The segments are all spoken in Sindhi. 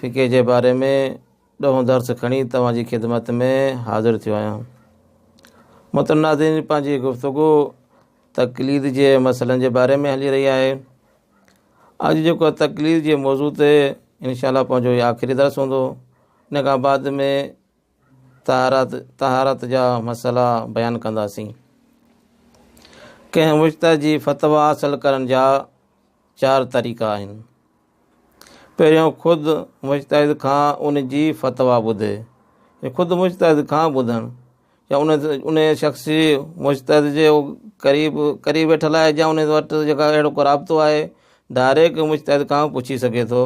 فقه جي باري ۾ ڏهون درس کڻي توهان جي خدمت ۾ حاضر ٿيو آهيان محترم ناظرين پنهنجي گفتگو تقليد جي مسئلن جي باري ۾ هلي رهي آهي اڄ جيڪو تقليد جي موضوع تي انشاءالله پنهنجو آخري درس هوندو ان کان بعد ۾ طهارت، طهارت جا مسئلا بيان ڪنداسين. ڪنهن مجتهد جي فتويٰ حاصل ڪرڻ جا چار طريقا آهن. پهريون خود مجتهد کان ان جي فتويٰ ٻڌي، يعني خود مجتهد کان ٻڌڻ يا ان ان شخص جي مجتهد جي قريب قريب ويٺل آهي يا ان وٽ جيڪا اهڙو ڪو رابطو آهي ڊائريڪٽ مجتهد کان پڇي سگهي ٿو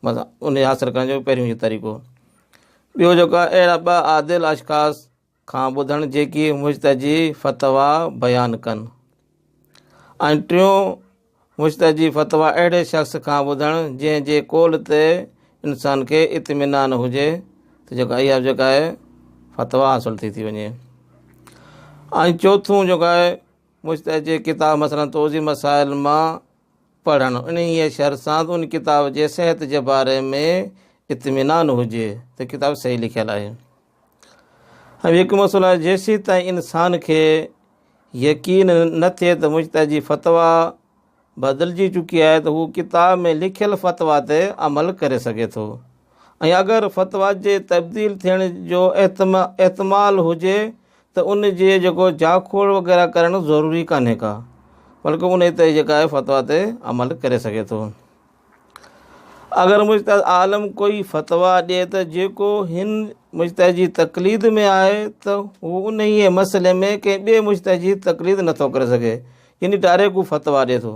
مطلب ان حاصل ڪرڻ جو پهريون اهو طريقو ٻيو جيڪا اهڙا ٻه عادل اشخاص کان ٻڌڻ جيڪي مشتجي فتويٰ بيان ڪن ۽ ٽيون مشتجي فتويٰ اهڙي شخص کان ٻڌڻ جنهن جي قول تي انسان کي اطمينان هجي ته جيڪا اها جيڪا آهي فتويٰ حاصل ٿي ٿي وڃي ۽ چوٿون جيڪا آهي مشتجي ڪتاب مثلا توضيع مسائل مان پڙهڻ انهيء شرط سان ته ان ڪتاب جي صحت جي باري ۾ اطمينان هجي ته ڪتاب صحيح لکيل آهي ۽ هڪ مسئلو آهي جيسي تائين انسان کي يقين نه ٿئي ته مشتاح جي فتوا بدلجي چڪي آهي ته هو ڪتاب ۾ لکيل فتوا تي عمل ڪري سگهي ٿو ۽ اگر فتويٰ جي تبديل ٿيڻ جو احتمال هجي ته ان جي جيڪو جاکوڙ وغيره ڪرڻ ضروري ڪانهي ڪا بلڪه ان تي جيڪا آهي فتويٰ تي عمل ڪري سگهي ٿو اگر مجتهد عالم ڪوئي فتويٰ ڏي ته جيڪو هن مجتهد جي تقليد ۾ آهي ته هو انهيء مسئلي ۾ ڪنهن ٻئي مجتهد جي تقليد نٿو ڪري سگهي يعني ڊائريڪٽ هو فتويٰ ڏي ٿو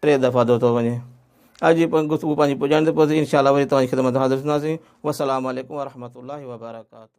ٽي دفعا ڌوتو وڃي. اڄ جي گفتگو پنهنجي پڄاڻي تي پهتي، انشاء الله وري توهان جي خدمت ۾ حاضر ٿينداسين. والسلام عليڪم ورحمة الله وبرڪاته.